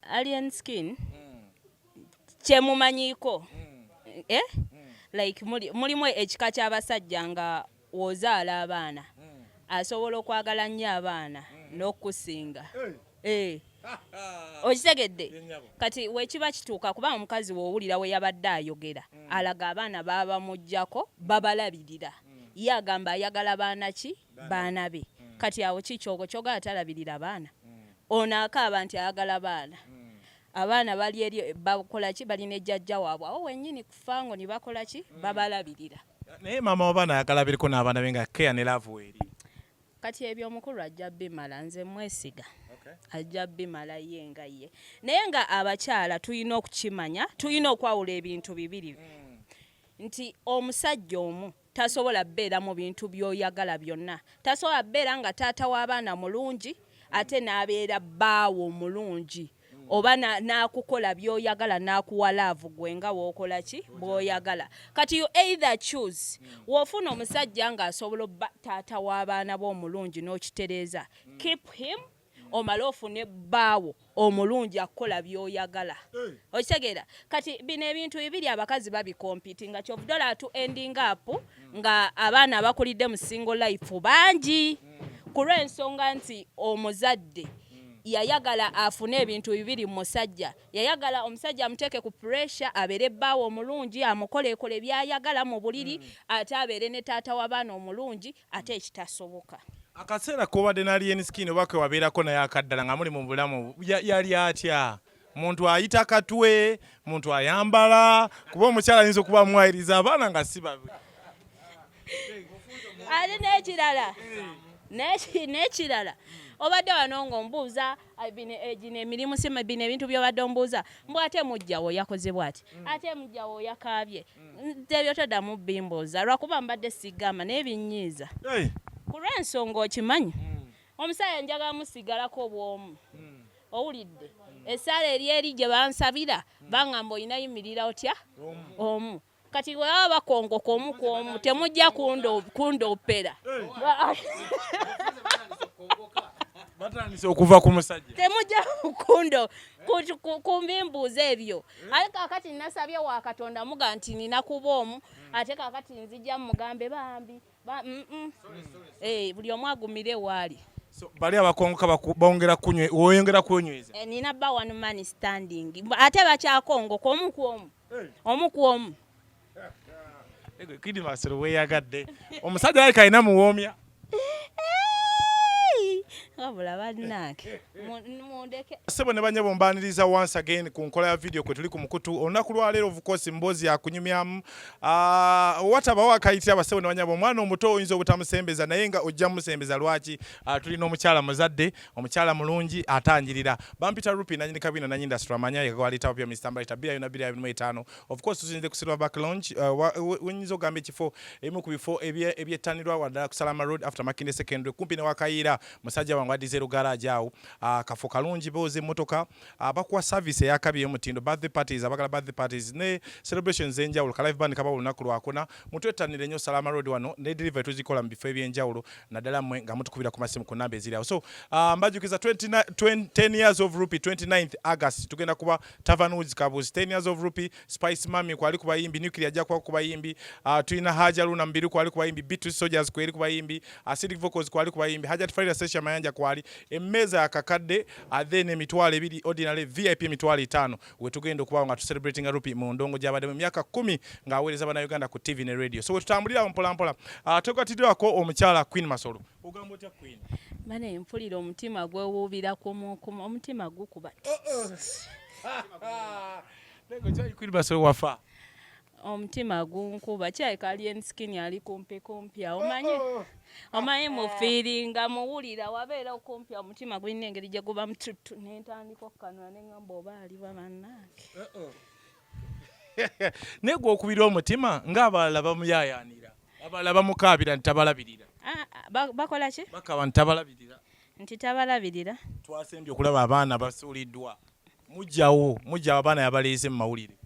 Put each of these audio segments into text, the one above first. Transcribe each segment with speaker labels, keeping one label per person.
Speaker 1: Alien skin kyemumanyiko eh? like mulimu ekika ky'abasajja nga wozaala abaana asobola okwagala nnyo abaana n'okukusinga eh. okitegedde kati wekiba kituuka kuba omukazi wowulira we yabadde ayogera alaga abaana babamugjako babalabirira ye agamba ayagala baana ki baana be mm. kati awo kikyogo kyoga atalabirira abaana mm. ono akaaba nti ayagala baana mm. abaana bali eri bakolaki balina ejjajja waabwe awo wenyini kufango nibakolaki mm. babalabirira naye maama
Speaker 2: wabaana ayagala biriko n'abaana be nga keya ne laavu weeri kati ebyo
Speaker 1: omukulu ajja bimala nze mwesiga ajja bimala ye nga ye naye nga abakyala tulina okukimanya tulina okwawula ebintu bibiri mm. nti omusajja omu Tasobola beera mu bintu by'oyagala byonna. Tasobola beera nga taata w'abaana mulungi ate n'abeera bbaawo omulungi oba n'akukola by'oyagala n'akuwa laavu gwe nga w'okola ki bw'oyagala. Kati you either choose w'ofuna omusajja ng'asobola obba taata w'abaana bo omulungi n'okitereeza keep him. omale ofune bbaawo omulungi akukola byoyagala eh. okitegeera kati bino ebintu bibiri abakazi babikompiti nga kyovudola atu ending up nga abaana abakulidde mu single life bangi ku lw'ensonga nti omuzadde yayagala afune ebintu bibiri mu musajja yayagala omusajja amuteeke ku puresha abeere bbaawe omulungi amukoleekole byayagala mu buliri mm. ate abeere ne taata w'abaana omulungi ate ekitasoboka akaseera
Speaker 2: kobadde nalien skin oba kewabeerako naye akaddala nga muli mu bulamu yali atya muntu ayita katwe muntu ayambala kuba omukyala ayinza okuba amwayiriza abaana nga si babe
Speaker 1: ali nekirala nekirala obadde wano ngaombuuza gino emirimu si bino ebintu byobadde ombuuza mbu ate mujjawo yakoze bwati mm. ate mujjawo yakaabye mm. ebyo toddamu bimbuuza lwakuba mbadde sigamba naye binyiiza ku lwensonga okimanyi mm. omusaayi njagala musigalako obwomu owulidde esaala eri eri gye bansabira bangamba olina yimirira otya omu kati bwebaba bakongoka omu ku omu temujja kundoopera
Speaker 2: batandise okuva ku musajja temujja kundo
Speaker 1: kumbimbuuza ebyo eh? aye kakati nasabye wa katonda muga nti nina kuba omu hmm. ate kakati nzija mugambe bambi mm, mm. Eh, buli omu agumire waali bali abakongoka
Speaker 2: bongera kunywa oyongera kunyweza eh, nina ba one man
Speaker 1: standing ate bakyakongoka omu ku omu omu ku omu
Speaker 2: kidmasiro weyagadde omusajja yali kalina muwoomya wabula bannange mundeke sebo ne banyabo mbaniriza once again ku nkola ya video kwe tuli ku mukutu olunaku lwaleero of course mboozi yakunyumyamu ah, watabawo akayitira basebo ne banyabo omwana omuto oyinza obutamusembeza naye nga ojja musembeza lwaki ah, tulina omukyala muzadde omukyala mulungi atangirira bampita rupi nanyini kabina nanyi industry amanya yegwalitawo pya mr mbalita bira yona bira yona etano of course tusinze kusirwa back launch uh, wenyizo gambe kifo emu ku bifo ebye ebyetanirwa wadala kusalama road after makinde secondary kumpi ne wakayira musajja wangu adizero garage awo uh, kafu kalungi boze motoka abakuwa service eyakabi eyomutindo birthday parties abagala birthday parties ne celebrations zenjawulo ka live band kaba olunaku lwakuna mutwettanire nyo salama road wano ne delivery tuzikola mu bifo ebyenjawulo naddala mwe nga mutukubira ku masimu ku namba eziri awo so uh, mbajukiza 10 years of rupee 29th august tugenda kuba tavern woods kabuzi 10 years of rupee Spice Mami kwali ku bayimbi, Nuclear ajja kuba ku bayimbi, uh, ah, tulina Haja Luna Mbiru kwali ku bayimbi, Beatrice Soldiers kwali ku bayimbi, Acidic Vocals kwali ku bayimbi, Hajat Farida Sesha Mayanja kwali, emmeeza akakadde uh, then emitwalo ebiri ordinary VIP emitwalo etaano we tugenda okubawo nga tu celebrating Rupi mu ndongo gy'abadde mu myaka kumi ng'aweereza bannayuganda ku TV ne radio. So we tutambulira mpola mpola. Uh, ah, Twegatiddwako omukyala Queen Masolo. Ogamba otya Queen? Bane mpulira
Speaker 1: omutima gwewuubira ku omutima gukuba. Uh -uh.
Speaker 2: omutima
Speaker 1: gunkuba kyayika alien skin ali kumpi kumpi awo omanyi oh, oh. omanyi mufiiringa muwulira wabeera okumpi omutima gulina engeri gye guba mututtu nentandika okukanula neŋamba oba aliba bannange
Speaker 2: naye gwokubira omutima ng'abalala bamuyayaanira abalala bamukaabira nti tabalabirira ah, ah, bakola
Speaker 1: ki bakaba nti tabalabirira
Speaker 2: nti tabalabirira
Speaker 1: twasembye okulaba
Speaker 2: abaana basuuliddwa mujjawo mujjawo abaana yabaleeze mu mawulire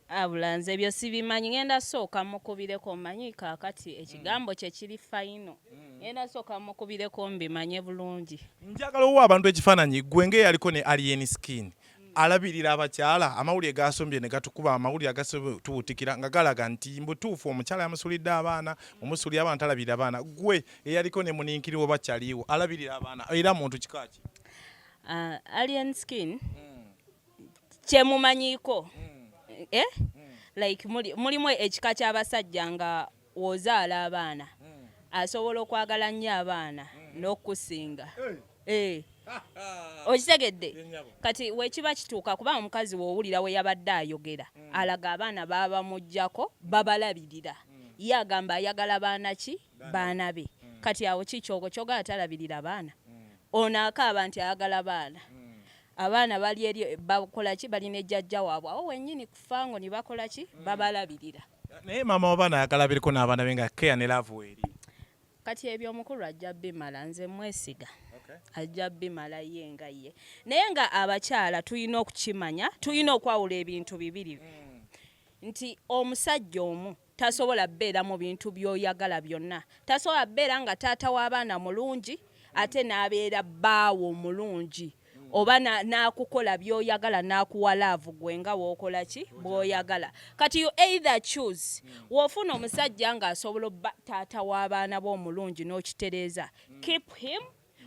Speaker 2: abula nze
Speaker 1: ebyo sibimanyi ngenda sooka mukubireko manyi kakati ekigambo kye kiri fayino hmm. ngenda sooka mukubireko mbimanye
Speaker 2: bulungi njagala owa abantu
Speaker 1: ekifaananyi
Speaker 2: gwe ngaeyaliko ne alien skin hmm. alabirira abakyala amawulire gasombye ne gatukuba amawulire agatubutikira nga galaga nti mbutuufu omukyala yamusulidde abaana hmm. omusulira abaana talabirira abaana gwe eyaliko ne muninkiriwo bakyaliiwo alabirira abaana era muntu kikaaki Uh,
Speaker 1: alien skin mm. kyemumanyiko mm. eh? mm. like mulimu ekika ky'abasajja nga wozaala abaana mm. asobola okwagala nnyo abaana mm. n'okukusinga hey. Eh. okitegedde kati wekiba kituuka kuba omukazi wowulira we yabadde ayogera mm. alaga abaana babamugjako babalabirira mm. ye agamba ayagala baana ki baana be mm. kati awo kikyogo kyoga atalabirira baana mm. ono akaaba nti ayagala baana mm. abaana bali eri bakolaki balina ejjajja waabwe awo wenyini kufango nibakolaki mm. babalabirira naye maama
Speaker 2: wabaana ayagala biriko n'abaana be nga keya ne laavu weeri kati ebyo
Speaker 1: omukulu ajja bimala nze mwesiga ajja bimala ye nga ye naye nga abakyala tulina okukimanya tulina okwawula ebintu bibiri mm. nti omusajja omu Tasobola beera mu bintu byoyagala byonna. Tasobola beera nga taata w'abaana mulungi ate n'abeera bbaawo omulungi oba n'akukola byoyagala n'akuwa laavu gwe nga wokola ki bwoyagala kati you either choose wofuna omusajja ng'asobola obba taata w'abaana bo omulungi n'okitereeza keep him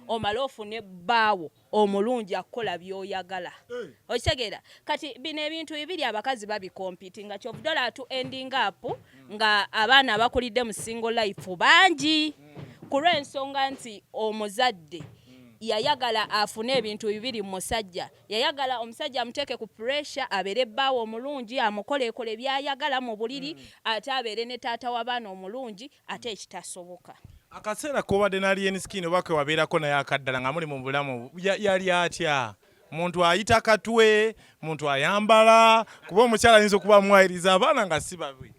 Speaker 1: omale ofune bbaawo omulungi akukola byoyagala eh. okitegeera kati bino ebintu bibiri abakazi babikompiti nga kyovudola atu ending up nga abaana abakulidde mu single life bangi ku lw'ensonga nti omuzadde yayagala afune ebintu bibiri mu musajja yayagala omusajja amuteeke ku puresha abeere bbaawe omulungi amukoleekole byayagala mu buliri mm. ate abeere ne taata w'abaana omulungi ate ekitasoboka akaseera
Speaker 2: kobadde nalien skin oba kewabeerako naye akaddala nga muli mu bulamu yali atya muntu ayita katwe muntu ayambala kuba omukyala ayinza okuba amwayiriza abaana nga si babi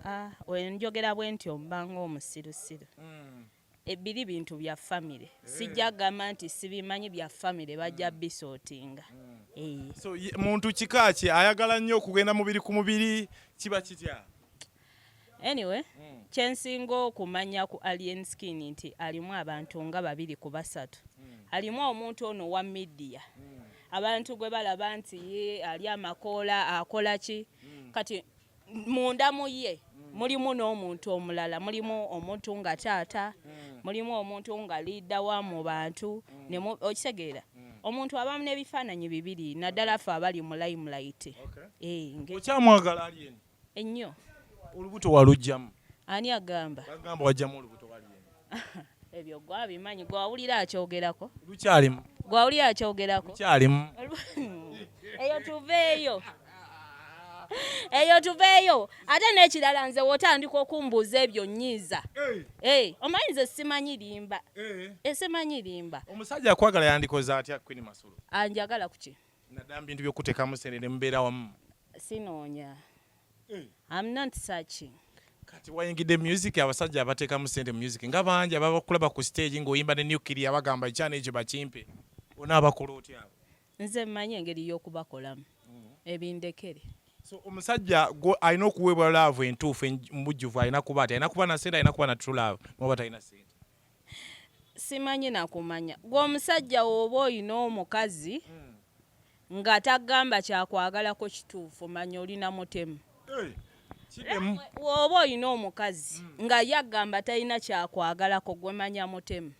Speaker 2: ah, ah,
Speaker 1: njogera bwe ntyo mba ngaomusirusiru hmm. Ebili bintu bya family sijja gamba nti sibimanyi bya family bajja bisotinga mm. so
Speaker 2: muntu kika ki ayagala nnyo okugenda mubiri ku mubiri kiba kitya
Speaker 1: anyway mm. kyensinga okumanya ku alien skin nti alimu abantu nga babiri ku basatu mm. alimu omuntu ono wa midiya mm. abantu gwe balaba nti ye ali amakoola akola ki mm. kati munda mu ye mm. mulimu n'omuntu omulala mulimu omuntu nga taata mm. mulimu omuntu nga liida wa mu bantu mm. okitegeera omuntu abamu n'ebifaananyi bibiri naddala fe abali mu layimulayiti eh,
Speaker 2: okyamwagala ali eno ennyo
Speaker 1: olubuto
Speaker 2: walugjamu ani agamba
Speaker 1: agamba wajjamu olubuto
Speaker 2: ebyo
Speaker 1: gwe abimanyi gwe awulira akyogerako lukyalimu gwe
Speaker 2: awulira akyogerako
Speaker 1: lukyalimu
Speaker 2: eyo tuveeyo
Speaker 1: eyo tuveeyo ate n'ekirala nze wotandika okumbuuza ebyo nyiiza eh, omanyi nze simanyi limba eh. Eh, simanyi limba omusajja akwagala
Speaker 2: yandikoze atya queen masolo anjagala kuki
Speaker 1: nadamba bintu byokutekamu
Speaker 2: sente ne mubeera wamu sinoonya
Speaker 1: mm. I'm not searching kati wayingidde
Speaker 2: music abasajja abateekamu sente music nga bangi ababakulaba ku stage ng'oyimba ne nukiri abagamba ekyana ekyo bakimpe ona abakola otya abo nze mmanyi engeri
Speaker 1: y'okubakolamu mm. ebindekere so
Speaker 2: omusajja alina okuweebwa laavu entuufu mubujjuvu alina kuba ati alina kuba na sente alina kuba na true love muba talina sente
Speaker 1: simanyi nakumanya gwe omusajja wooba olina omukazi hmm. nga tagamba kyakwagalako kituufu manya olina mutemu wooba olina omukazi hmm. nga ye agamba talina kyakwagalako gwe manya mutemu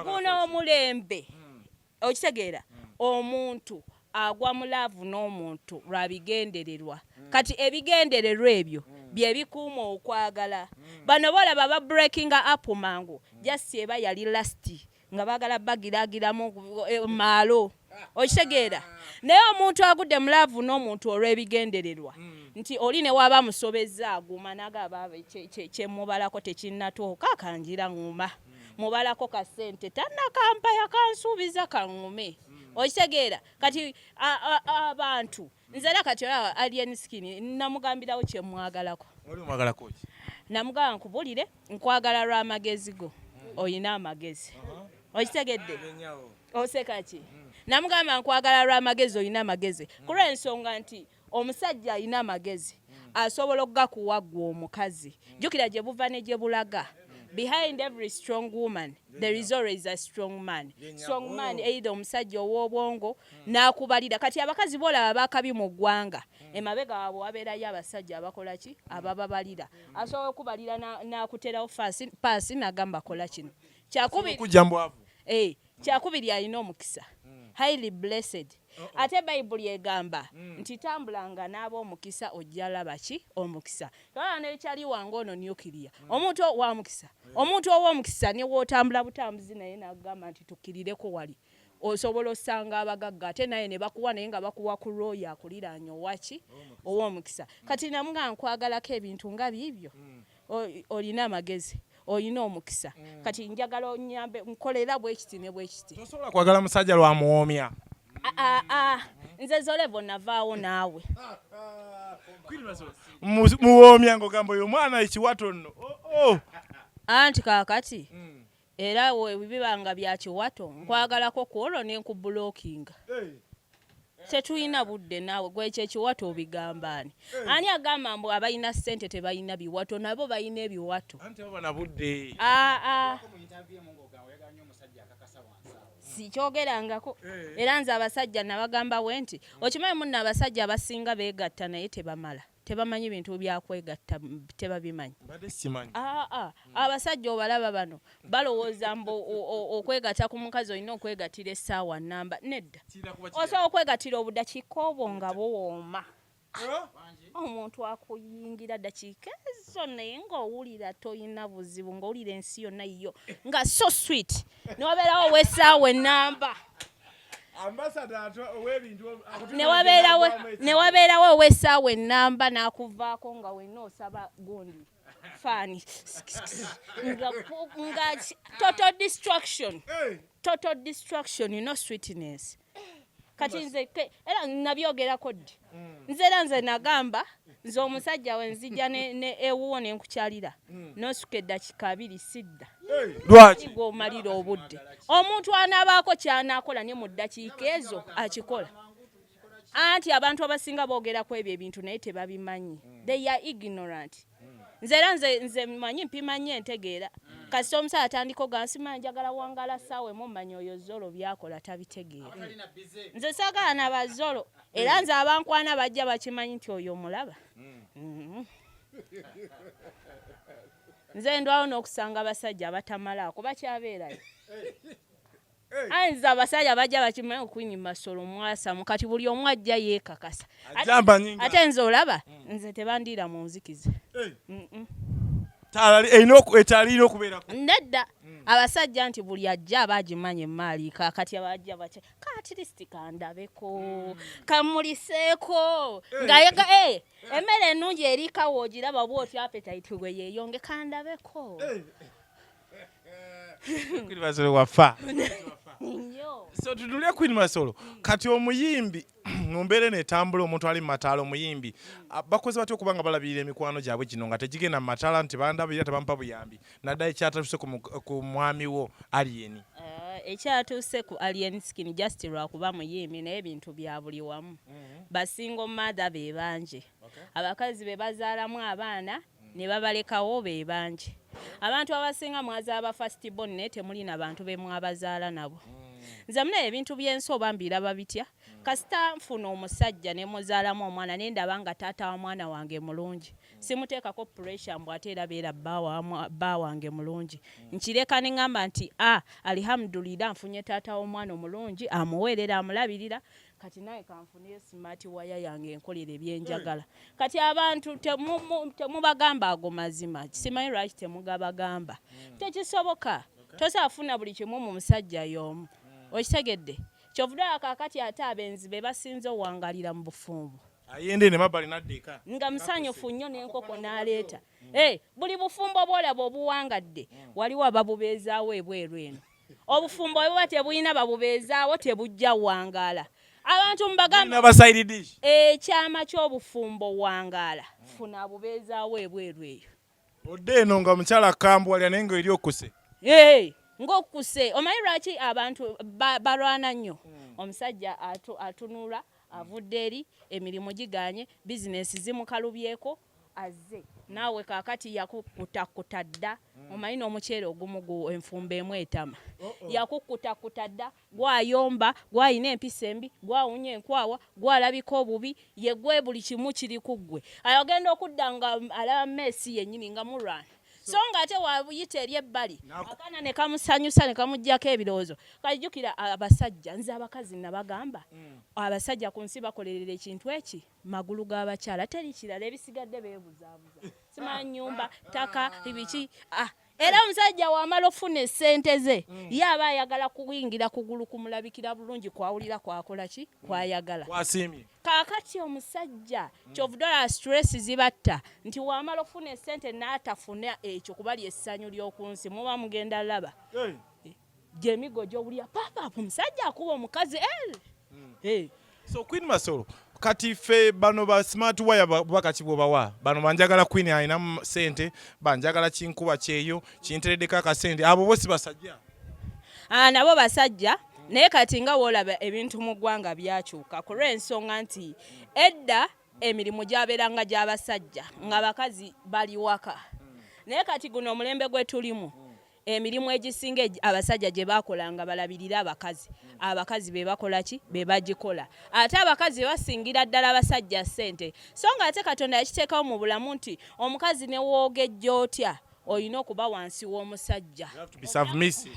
Speaker 2: guno omulembe
Speaker 1: hmm. okitegeera omuntu agwa mu laavu n'omuntu lwa bigendererwa mm. kati ebigendererwa ebyo mm. bye bikuuma okwagala mm. bano boolaba ba breakinga up mangu jasi eba yali lasti nga baagala bagiragiramu e, maalo okitegeera ah. naye omuntu agudde mu laavu n'omuntu olw'ebigendererwa nti oli ne waaba musobezza aguma nagaaba kyemubalako tekinnatuuka kangira nguma mubalako ka sente tanakampa yakansuubiza kaŋume okitegeera kati abantu nzera kati olaba alien skin namugambirawo kyemwagalako namugamba nkubulire nkwagala lwa magezi go oyina amagezi okitegedde osekaki namugamba nkwagala lwa magezi oyina amagezi kulwensonga nti omusajja alina amagezi asobola okugakuwa gwe omukazi jukira gye buva ne gye bulaga behind every strong woman there is always a strong man strong man either omusajja ow'obwongo hmm. n'akubalira kati abakazi boolaba bakabi mu ggwanga hmm. emabega waabwe wabeerayo abasajja abakola ki hmm. abababalira asobola okubalira n'akuterawo paasi n'agamba kola kino kyakubiri eh, kyakubiri alina omukisa mm. highly blessed uh -oh. ate bayibuli egamba mm. nti tambulanga n'aba omukisa ojja laba ki omukisa tolaba nekyali wange ono nukiriya mm. omuntu wa mukisa yeah. omuntu ow'omukisa ne wootambula butambuzi naye nagamba nti tukkirireko wali osobola osanga abagagga ate naye ne bakuwa naye nga bakuwa ku lwoyo akuliraanya owaki ow'omukisa kati namuga nkwagalako ebintu nga biibyo mm. olina amagezi olina omukisa mm. kati njagala onyambe nkolera bwekiti ne bwekiti tosobola kwagala musajja
Speaker 2: lwamuwoomya ah, ah, ah.
Speaker 1: nze zolevo navaawo naawe
Speaker 2: muwoomya ngaogamba oyo omwana ekiwato nno oh, oh.
Speaker 1: anti kakati mm. Era webiba nga bya kiwato nkwagalako kwolwo ne nkubulokinga. Tetulina budde naawe gwe ekyo ekiwato obigamba ani? Ani agamba mbu abalina ssente tebalina biwato nabo balina ebiwato. Anti baba na budde. Aa. sikyogerangako era nze abasajja nabagamba bwenti okimanyi munno abasajja abasinga begatta naye tebamala. tebamanyi bintu byakwegatta tebabimanyi ah, ah. abasajja obalaba bano balowooza mbu okwegatta ku mukazi olina okwegatira essaawa namba nedda osobola okwegatira obudakiika obwo nga buwooma omuntu akuyingira dakiika ezo naye ngaowulira tolina buzibu ngaowulira ensi yonna yiyo nga so sweet nobeerawo wesaawa enamba newabeerawo ow'essaawa ennamba n'akuvaako nga wenna osaba gundi faani nga total destruction total destruction no sweetness kati nze era nabyogerako ddi mm. nze era nze nagamba nze omusajja we nzija ewuwo ne nkukyalira mm. nosuka eddakika abiri sidda lwaki gwomalira obudde omuntu anaabaako kyanakola ne mu ddakiika ezo akikola anti abantu abasinga boogera ku ebyo ebintu naye tebabimanyi mm. they are ignorant nze era nze manyi mpimanyi entegeera kasita omusaala atandika ogansima njagala wangala saawa emu manya oyo zolo byakola tabitegeera nze saagala na bazolo era hmm. nze abankwana bajja bakimanyi nti oyo omulaba hmm. mm-hmm. nze ndwawo n'okusanga abasajja abatamalaako bakyabeerayo ayinza abasajja bajja bakimanyi okunyima solo mwasamu kati buli omu ajja yeekakasa ate nze olaba hmm. nze tebandiira mu nzikiza
Speaker 2: ekyalina okubeerako nedda
Speaker 1: abasajja nti buli ajja aba agimanyi emaali kakati abajja kaatirisiti kandabeko mm. kamuliseeko eh. ngayega e eh, eh. emmere ennungi erikawo ogiraba oba otya apetayiti gwe yeeyonge kandabeko
Speaker 2: kwinmasolo wafa so tutunule kwinmasolo mm. kati omuyimbi mu mbeera eno etambula omuntu ali mu mataala omuyimbi bakoze batya okuba nga balabirira emikwano gyabwe gino nga tegigenda mu mataala nti bandabirira tebampa buyambi naddala ekyatuuse ku mwami wo aliyeni eh, ekyatuuse
Speaker 1: ku alien skin just lwakuba muyimbi naye ebintu bya buli wamu mhm. basingo mother be bangi abakazi be bazaalamu abaana ne babalekawo be bangi abantu abasinga mwazaala ba first born naye temuli na bantu be mwabazaala nabo mm. nze muna ebintu byensi oba mbiraba bitya kasita nfuna omusajja ne muzaalamu omwana ne ndaba nga taata wa mwana wange mulungi simuteekako pressure mbu ate era beera bba wange mulungi nkireka ne ŋŋamba nti a ah, alihamudulira nfunye taata w'omwana omulungi amuweerera amulabirira kati naye kanfuneyo smart waya yange enkolera ebyenjagala hmm. kati abantu temubagamba ago mazima simanyi lwaki temugabagamba hmm. tekisoboka tosaafuna buli kimu mu musajja y'omu hmm. okitegedde kyovudaakakati ate abenzi be basinze owangalira mu bufumbo ayenda eno emabbali
Speaker 2: n'adda eka nga musanyufu nnyo
Speaker 1: n'enkoko n'aleeta eh, buli bufumbo bwolaba obuwangadde waliwo ababubeezaawo ebweru eno obufumbo bwe buba tebulina babubeezaawo tebujja wangaala abantu mubagambaabasairidish ekyama ky'obufumbo wangaala funa abubeezaawo ebweru eyo odde eno nga
Speaker 2: mukyala akambuwalira naye nga eri okuse ng'okuse
Speaker 1: omanyi lwaki abantu balwana nnyo hmm. omusajja atunula avudde eri emirimu giganye bizinesi zimukalubyeko azze naawe kakati yakukutakuta dda hmm. omanyi n'omuceere ogumu gu enfumba emu etama yakukutakuta dda gwayomba, gwalina empisa embi, gwawunya enkwawa, gwalabika obubi, ye gwe buli kimu kiri ku ggwe. Ayo agenda okudda nga alaba meesi yennyini nga mulwana so nga ate wayita eri ebbali akaana ne kamusanyusa ne kamuggyako ebirowoozo kati jjukira abasajja nze abakazi nabagamba mm. abasajja ku nsi bakolerera ekintu eki magulu g'abakyala teri kirala ebisigadde beebuzaabuza simanya nyumba ttaka ibiki ah era omusajja wamala okufuna esente ze mm. ye aba ayagala kuyingira kugulu kumulabikira bulungi kwawulira kwakola ki mm. kwayagala
Speaker 2: kakati
Speaker 1: omusajja mm. kyovudola stress zibatta nti wamala okufuna esente n'atafuna ekyo kuba lyessanyu ly'oku nsi muba mugenda laba gyemigo gyowulira papapu musajja akuba omukazi el mm. hey.
Speaker 2: so queen masolo kati fe bano ba smart wire bakaki bwobawa bano banjagala queen alina sente banjagala kinkuba kyeyo kinteredeko akasente abo bosi basajja ah, nabo
Speaker 1: basajja naye kati nga wolaba ebintu mu ggwanga byakyuka ku lw'ensonga nti edda emirimu gyabeeranga gy'abasajja nga bakazi bali waka naye kati guno omulembe gwe tulimu emirimu egisinga abasajja gye bakola nga balabirira abakazi abakazi be bakola ki be bagikola ate abakazi basingira ddala abasajja ssente so nga ate katonda yakiteekawo mu bulamu nti omukazi ne woogejja otya olina okuba wansi w'omusajja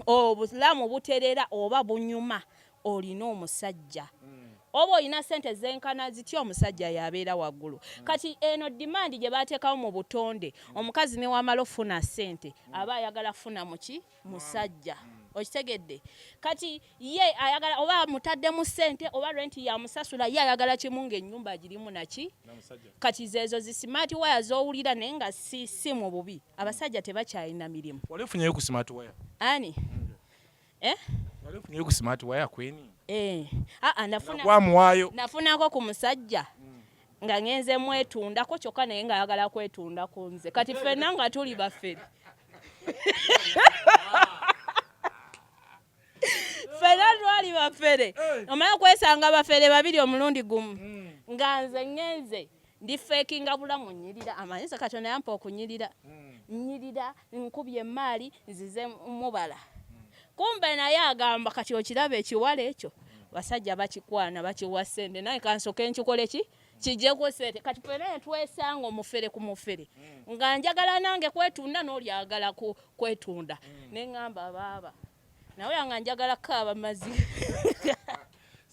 Speaker 1: obulamu buterera oba bunyuma olina omusajja mm. oba olina sente zenkana zitya omusajja yabeera waggulu mm. kati eno dimandi gye bateekawo mu butonde mm. omukazi newamala okufuna sente mm. aba ayagala funa muki musajja mm. okitegedde kati ye ayagala oba mutaddemu sente oba renti yamusasula ye ayagala kimu ngaenyumba agirimu naki kati zeezo zi smart wire zowulira naye nga si si mu bubi abasajja tebakyalina mirimu
Speaker 2: ani eh? ku smart waya kweni eh. ah, ah,
Speaker 1: nafunako ku musajja nga ngenze mwetundako kyokka naye nga ayagala kwetunda ku nze kati ffenna nga tuli bafere ffena twali bafere omala kwesanga bafere babiri omulundi gumu hmm. nga nze ngenze ndi fekinga bulamu nyirira amanyisa katonda yampa okunyirira hmm. nyirira nkubye emaali nzize mubala hmm. kumbe naye agamba kati okiraba ekiwala ekyo hmm. basajja bakikwana bakiwa sente naye kansoke nkikole ki kijeko sente kati fena netwesanga omufere ku mufere nga njagala nange kwetunda nolyagala kwetunda nengamba baaba nawe nga njagala kaaba mazi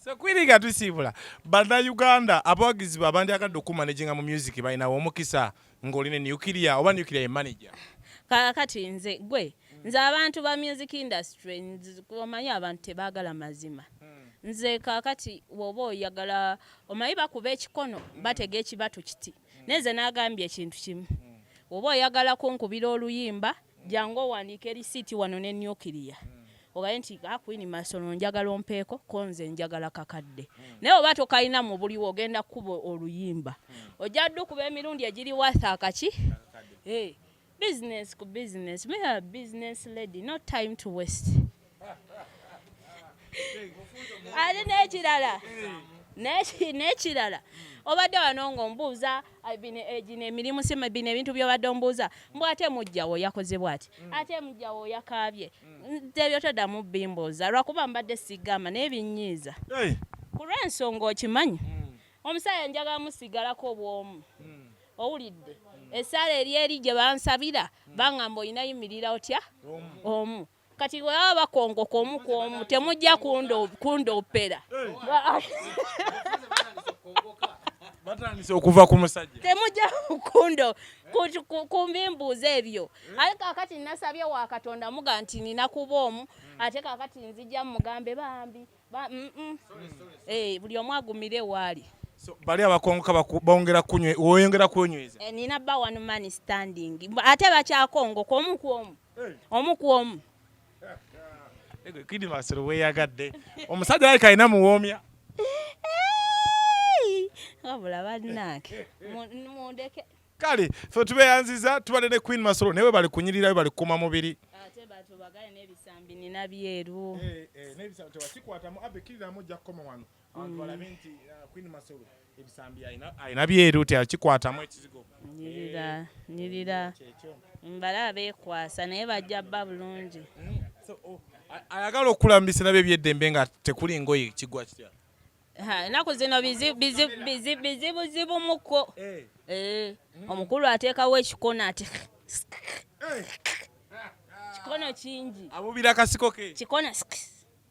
Speaker 1: sekwiriga
Speaker 2: tusiibula bannayuganda abawagizi ba bandyagadde okumanejinga mu music balinawo omukisa ng'oli ne nuclear oba nuclear ye manager kakati
Speaker 1: nze gwe nze abantu ba music industry omanyi abantu tebagala mazima hmm. nze kakati woba oyagala omanyi bakuba ekikono hmm. batega ekibatu kiti hmm. naye nze nagambye ekintu kimu woba oyagala kunkubira oluyimba jangu owandiike lisiiti wano ne nuclear ogaye nti akwini ah, masono njagala ompeeko ko nze njagala kakadde naye oba tokalina mu buliwo ogenda kukuba oluyimba ojja ddu kuba emirundi egiri watha akaki eh, business ku business me a business lady no time to waste ate n'ekirala n'ekirala obadde wano ng'ombuuza eh, eh, gino emirimu si bino ebintu byobadde ombuuza mbu ate mujjawo yakozebwa ati mm. ate mujjawo yakaabye mm. tebyo toddamu bimbuuza lwakuba mbadde sigamba naye binyiiza ku lw'ensonga okimanyi mm. omusajja njagala musigalako obwomu owulidde esaala eri eri gye bansabira bangamba olina yimirira otya omu kati bwebaba bakongoka omu ku omu temujja kundoopera
Speaker 2: batandise okuva ku musajja temujja kundo
Speaker 1: kumbimbuuza ebyo eh? aye kakati nasabye wa katonda muga nti nina kuba omu hmm. ate kakati nzija mugambe bambi mm, mm. Eh, buli omu agumire waali bali abakongoka
Speaker 2: bongera kunywa oyongera kunyweza eh, nina ba one man
Speaker 1: standing ate bakyakongoka omu ku omu omu ku omu
Speaker 2: kidimasiro weyagadde omusajja yali kalina muwoomya
Speaker 1: wabula bannange mundeke
Speaker 2: kale fe tubeyanziza tubadde ne queen masolo naye bali kunyirirayo bali kukuma mubiri ate batubagale
Speaker 1: n'ebisambi nina byeru eh, eh, n'ebisambi
Speaker 2: tewakikwatamu abe kiriramu ojja kukoma wano abantu balabe nti uh, queen masolo ebisambi alina byeru teyakikwatamu ekizigo nyirira eh,
Speaker 1: nyirira mbala abeekwasa naye bajja bba bulungi mm, oh,
Speaker 2: ayagala okukula mu biseera bye byeddembe nga tekuli ngoye kigwa kitya enaku
Speaker 1: zino bizibuzibumuko eh. eh, mm. omukulu ateekawo ekikono ati kikono kingi abubira kasiko ke
Speaker 2: kikono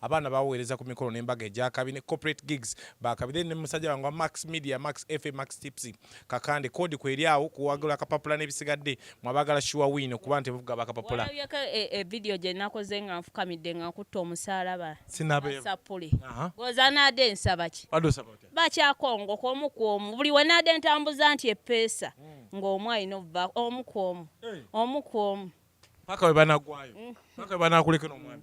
Speaker 2: abaana baweereza ku mikolo n'embaga egyakabi ne corporate gigs bakabi then ne musajja wange wa max media max fa max tipsy kakande kodi kweri awo kuwagula akapapula n'ebisigadde mwabagala shuwa win okuba nti buvuga bakapapula evidiyo
Speaker 1: e, e gye nakoze nga nfukamidde nga nkutta omusaalaba sinabesappuli goza naade nsaba ki bakyakongo kwomu kwomu buli wenaade ntambuza nti epeesa hmm. ng'omu alina obuva omu kwomu omu kwomu paka
Speaker 2: webanagwayo paka webanakulekeno omwami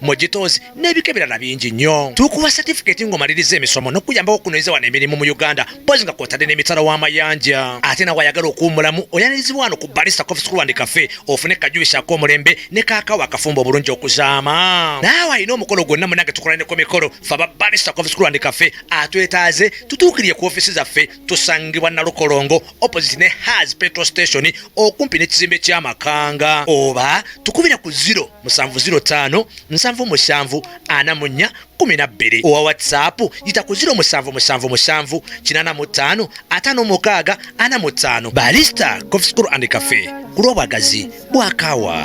Speaker 3: mu gitoozi n'ebika ebirala bingi nnyo tukuwa satifikeeti ng'omaliriza emisomo n'okuyambako okunoyeza wano emirimu mu uganda mpozi nga kwotadde n'emitala w'amayanja ate nawe ayagala okuwumulamu oyanirizibwa wano ku balista coffee school and cafe ofune kajubisi ak'omulembe ne kaakawa akafumba obulungi okuzaama naawe alina omukolo gwonna munange tukolane ku mikolo fe aba balista coffee school and cafe atwetaaze tutuukirire ku ofiisi zaffe tusangibwa nalukolongo opposite ne has petrol station okumpi n'ekizimbe ky'amakanga oba tukubira ku ziro musanvu ziro taano nsanvu musanvu ana mu nnya kumi na bbiri owa whatsapp yita ku ziro musanvu musanvu musanvu kinana mu ttaano ataano mukaaga ana mu ttaano balista cofscur and cafe ku lw'obwagazi bwakaawa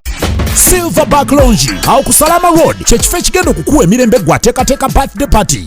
Speaker 3: silverback
Speaker 4: longi awo ku salama road kyekifo ekigenda okukuwa emirembe gwateekateeka birthday party